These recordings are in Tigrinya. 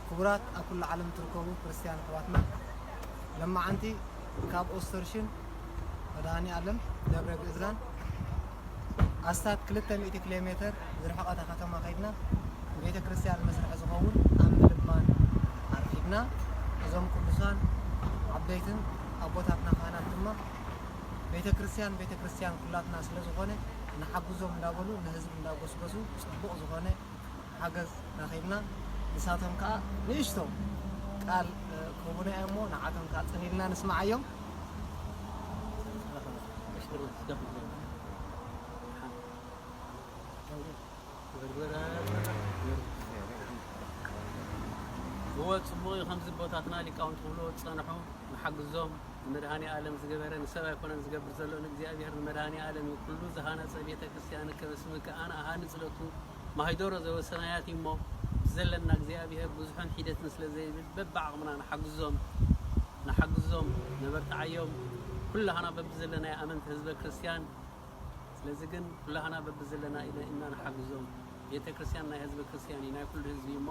ክቡራት ኣብ ኩሉ ዓለም ትርከቡ ክርስትያን ኣሕዋትና ለማዓንቲ ካብ ኦስተርሽን መድሃኒኣለም ደብረ ግእዛን ኣስታት ክልተ ሚእቲ ኪሎ ሜተር ዝርሕቐታ ከተማ ከይድና ንቤተ ክርስቲያን መስርሒ ዝኸውን ኣብ ምልማን ኣርኪብና። እዞም ቅዱሳን ዓበይትን ኣቦታትና ካህናት ድማ ቤተ ክርስቲያን ቤተ ክርስቲያን ኩላትና ስለ ዝኾነ ንሓግዞም እንዳበሉ ንህዝቢ እንዳጎስጎሱ ጽቡቕ ዝኾነ ሓገዝ ረኺብና። ንሳቶም ከኣ ንእሽቶ ቃል ክህቡና እዮም እሞ ንዓቶም ከኣ ጽን ኢልና ንስምዓዮም። እወ ፅቡቅ እዩ ከምዚ ቦታትና ሊቃውንቲ ክብልዎ ዝፀንሑ ንሓግዞም ንመድሃኒኣለም ዝገበረ ንሰብ ኣይኮነን ዝገብር ዘሎ ንእግዚኣብሔር ንመድሃኒኣለም እዩ ኩሉ ዝሃነፀ ቤተክርስትያን ከበ ስምከ ኣነ እሃንፅ ለቱ ማህደሮ ዘበሰናያት እዩ እሞ ብዘለና እግዚኣብሔር ብዙሕን ሒደትን ስለ ዘይብል በብዓቕምና ንሓግዞም ንሓግዞም ነበርትዓዮም ኩላህና በብዘለናዮ ኣመንቲ ህዝበ ክርስቲያን ስለዚ ግን ኩላህና በብዘለና ኢና ንሓግዞም ቤተ ክርስቲያን ናይ ህዝበ ክርስቲያን እዩ ናይ ኩሉ ህዝቢ እዩ እሞ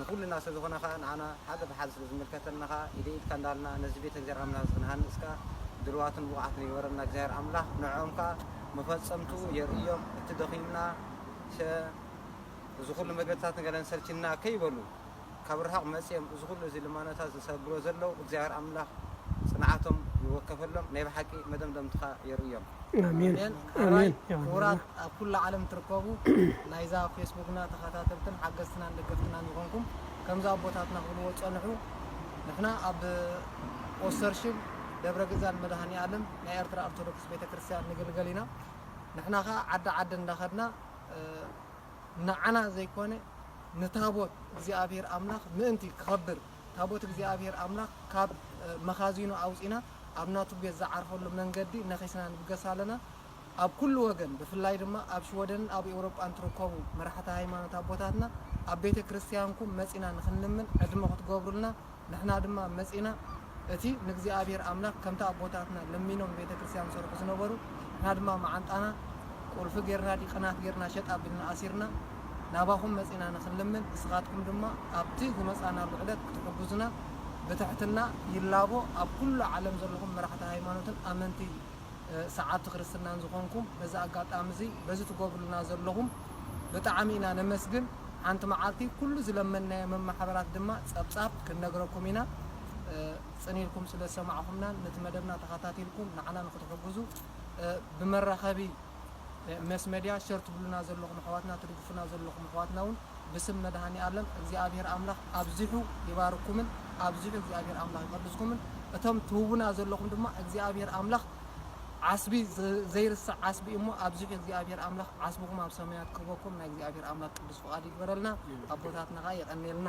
ንኩልና ስለ ዝኮና ከኣ ንዓና ሓደ ብሓደ ስለ ዝምልከተና ከኣ ኢደይ ኢድካ እንዳልና ነዚ ቤተ እግዚኣብሔር ኣምላኽ እዚ ክንሃንጽ ከኣ ድልዋትን ብቁዓትን ይግበረና እግዚኣብሔር ኣምላኽ ንዕኦም ከኣ መፈጸምትኡ የርእዮም እቲ ደኺምና ሸ እዚ ኩሉ መግለጺታት ንገለን ሰልቺና ከይበሉ ካብ ርሑቅ መጽዮም እዚ ኩሉ እዚ ልማኖታት ዝሰግሮ ዘለዉ እግዚኣብሔር ኣምላኽ ጽንዓቶም ይወከፈሎም ናይ ብሓቂ መደምደምትኻ የርእዮም። ኣሜን ሐራይ ክቡራት ኣብ ኩላ ዓለም ትርከቡ ናይዛ ፌስቡክና ተኻታተልትን ሓገዝትናን ደገፍትናን ዝኾንኩም ከምዚ ኣቦታትና ክብልዎ ዝጸንሑ ንሕና ኣብ ኦስተርሽብ ደብረ ግዛን መድሃኒኣለም ናይ ኤርትራ ኦርቶዶክስ ቤተክርስትያን ንግልገል ኢና ንሕና ከኣ ዓዲ ዓዲ እንዳኸድና ንዓና ዘይኮነ ንታቦት እግዚኣብሔር ኣምላኽ ምእንቲ ክኸብር ታቦት እግዚኣብሄር ኣምላኽ ካብ መኻዚኑ ኣውጺእና ኣብ ናቱ ቤት ዝዓርፈሉ መንገዲ ነኺስና ንብገስ ኣለና። ኣብ ኩሉ ወገን ብፍላይ ድማ ኣብ ሽወደንን ኣብ ኤውሮጳን ትርከቡ መራሕቲ ሃይማኖት ኣቦታትና ኣብ ቤተ ክርስትያንኩም መጺእና ንኽንልምን ዕድመ ክትገብሩልና ንሕና ድማ መጺእና እቲ ንእግዚኣብሄር ኣምላኽ ከምቲ ኣቦታትና ለሚኖም ንቤተ ክርስትያን ዝሰርሑ ዝነበሩ ንሕና ድማ መዓንጣና ቁልፊ ጌርና ዲቅናት ጌርና ሸጥ ኣቢልና ኣሲርና ናባኹም መጺእና ንኽንልምን እስኻትኩም ድማ ኣብቲ ዝመጻእናሉ ዕለት ክትሕጉዙና ብትሕትና ይላቦ ኣብ ኩሉ ዓለም ዘለኹም መራሕቲ ሃይማኖትን ኣመንቲ ሰዓብቲ ክርስትናን ዝኾንኩም በዚ ኣጋጣሚ እዚ በዚ ትገብሩልና ዘለኹም ብጣዕሚ ኢና ነመስግን ሓንቲ መዓልቲ ኩሉ ዝለመንናዮ መማሕበራት ድማ ጸብጻብ ክንነግረኩም ኢና ጽን ኢልኩም ስለ ዝሰማዕኹምናን ነቲ መደብና ተኸታቲልኩም ንዓና ንኽትሕጉዙ ብመራኸቢ መስ መድያ ሸር ትብሉና ዘለኹም ኣሕዋትና ትድግፉና ዘለኹም ኣሕዋትና ውን ብስም መድሃኒኣለም እግዚኣብሄር ኣምላኽ ኣብዚሑ ይባርኩምን ኣብዚሑ እግዚኣብሄር ኣምላኽ ይቐድስኩምን እቶም ትህቡና ዘለኹም ድማ እግዚኣብሄር ኣምላኽ ዓስቢ ዘይርሳዕ ዓስቢ እሞ ኣብዚሑ እግዚኣብሄር ኣምላኽ ዓስብኹም ኣብ ሰማያት ክህበኩም ናይ እግዚኣብሄር ኣምላኽ ቅዱስ ፍቓድ ይግበረልና ኣቦታትና ከኣ የቐኔልና።